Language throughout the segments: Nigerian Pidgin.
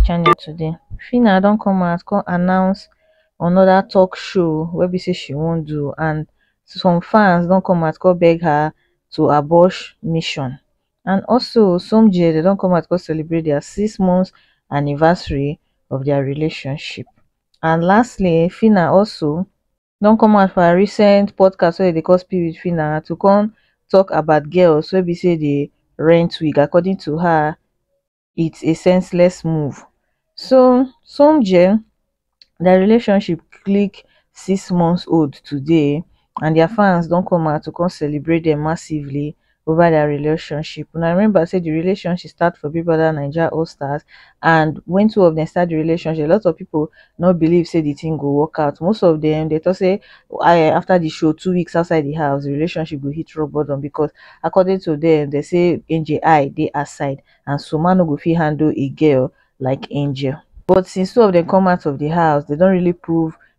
channel today Phyna don come out come announce another talk show wey be say she wan do and some fans don come out come beg her to abort mission and also Somjie dem don come out come celebrate their six months anniversary of their relationship and lastly Phyna also don come out for her recent podcast wey dem dey call spirit phyna to come talk about girls wey be sey dey rent wig according to her it's a senseless move so somegear their relationship click six months old today and their fans don come out to come celebrate dem massively over dia relationship una remember say di relationship start for Big Brother Naija All Stars and when two of dem start di relationship a lot of people no believe say di thing go work out most of dem dey talk say eh, after di show two weeks outside di house di relationship go hit rock bottom because according to dem dem say Angel eye dey outside and so man no go fit handle a girl like Angel but since two of dem come out of di house dem don really prove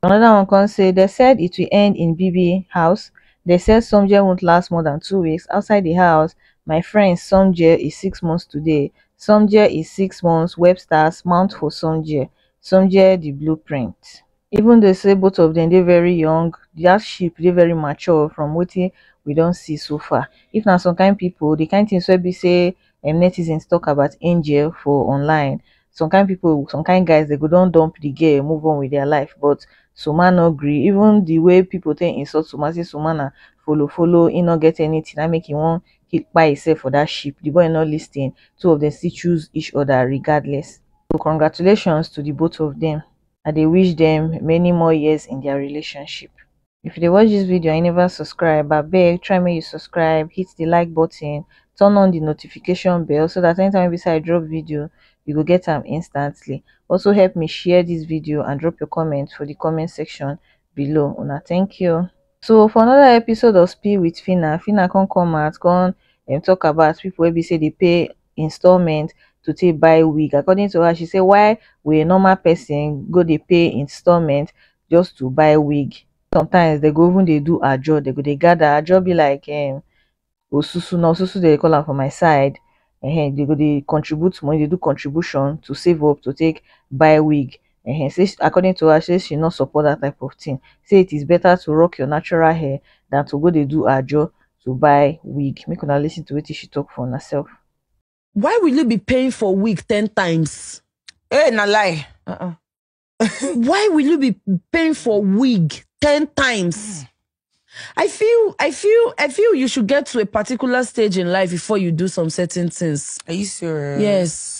anoda one come say dem said it will end in bibi house dem said soomjeh wont last more dan two weeks outside di house my friends soomjeh is six months today soomjeh is six months webster's mount for soomjeh soomjeh di blueprint even though say both of dem dey very young dia ship dey very mature from wetin we don see so far if na some kain pipo di kain tins wey be say um netizens tok about angel for online some kind people some kind guys dey go don dump the girl move on with their life but Suma no gree even the way people take insult Suma say Suma na follow follow he no get anything na make he wan he kpai himself for that ship the boy no listen two of them still choose each other regardless so congratulations to the both of them I dey wish them many more years in their relationship. if you dey watch dis video and you never subscribe abeg try make you subscribe hit the like button turn on the notification bell so that anytime wey i drop video you go get am instantly also help me share this video and drop your comment for the comment section below una thank you so for another episode of spill with phyna phyna come come out come um, talk about people wey be say dey pay installment to take buy wig according to her she say why will a normal person go dey pay installment just to buy wig sometimes they go even dey do ajo they go dey gather ajo be like um osusu na osusu they dey call am for my side um they go dey contribute money dey do contribution to save up to take buy wig um say according to her say she no support that type of thing say it is better to rock your natural hair than to go dey do ajo to buy wig make una listen to wetin she talk for una self. why will you be paying for wig ten times Hey, na lie. Uh-uh. why will you be paying for wig 10 times i feel i feel i feel you should get to a particular stage in life before you do some certain things Are you serious? yes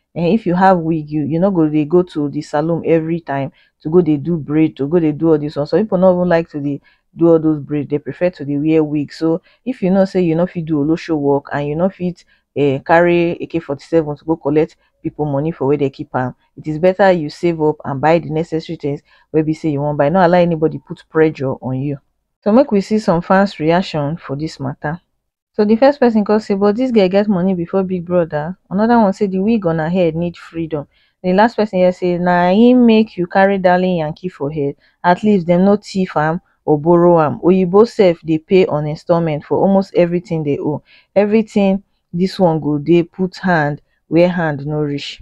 um if you have wig you you no go dey go to the salon everytime to go dey do braid to go dey do all this one some people no even like to dey do all those braid they prefer to dey wear wig so if you know say you no fit do olosho work and you no fit um carry AK-47 to go collect people money for where they keep am it is better you save up and buy the necessary things wey be say you wan buy no allow anybody put pressure on you so make we see some fans reaction for this matter so the first person con say but this girl get money before big brother another one say the wig on her head need freedom the last person hear say na him make you carry darling yankee for head at least dem no thief am or borrow am oyinbo sef dey pay on installment for almost everything they owe everything this one go dey put hand where hand no reach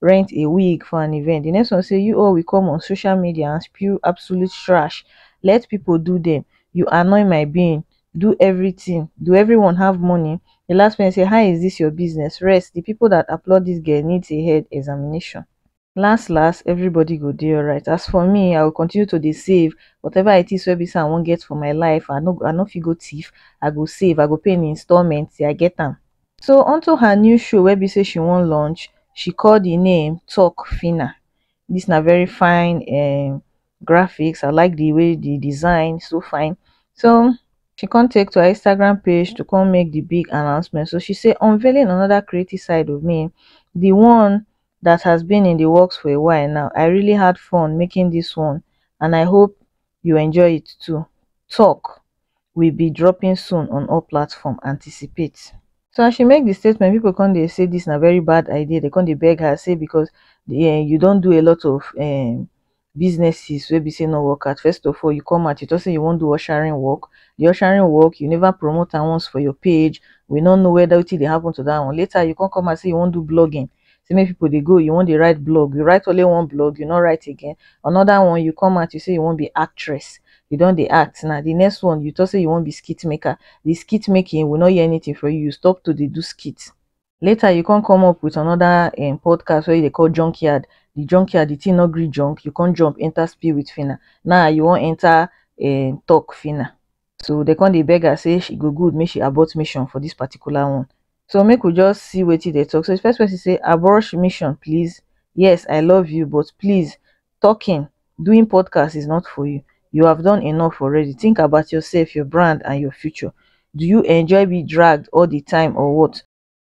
rent a wig for an event, di next one say you all will come on social media and spew absolute trash, let people do them, you annoy my being, do everything, do everyone have money? Di last person say how is this your business, rest, di people that applaud this girl needs a head examination. Last last, everybody go dey alright, as for me I will continue to dey save, whatever it is wey be say I wan get for my life, I no I no fit go thief, I go save, I go pay in installment till I get am. So unto her new show wey be say she wan launch, she call the name Talk Fina. This na very fine um, graphics. I like the way the design so fine. So she come take to her Instagram page to come make the big announcement. So she say unveiling another creative side of me, the one that has been in the works for a while now. I really had fun making this one and I hope you enjoy it too. Talk will be dropping soon on all platform anticipate so as she make di statement pipo come dey say dis na very bad idea dem come dey beg her say becos you don do a lot of um businesses wey be say no work out first of all you come out you tok say you wan do ushering work di ushering work you never promote am once for your page we no know weda wetin dey happun to dat one later you come come out say you wan do blogging say make people dey go you wan dey write blog you write only one blog you no write again another one you come out you say you wan be actress you don dey act now the next one you talk say you wan be skit maker the skit making we no hear anything for you you stop to dey do skit later you come come up with another um, podcast wey you dey call junkyard the junkyard the thing no gree junk you come jump enter spill with fina now you wan enter um, talk fina so dey come dey beg her say she go good make she abort mission for this particular one so make we just see wetin dey talk so the first person say abort mission please yes i love you but please talking doing podcast is not for you you have done enough already think about yourself your brand and your future do you enjoy be dragged all the time or what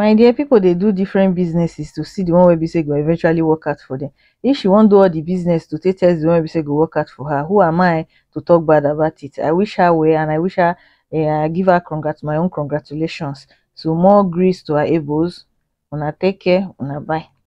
my dear people dey do different businesses to see the one wey be say e go eventually work out for them if she wan do all the business to take test the one wey be say e go work out for her who am I to talk bad about it I wish her well and I wish her um I give her congrat my own congratulations so more grease to her elbows una take care una bye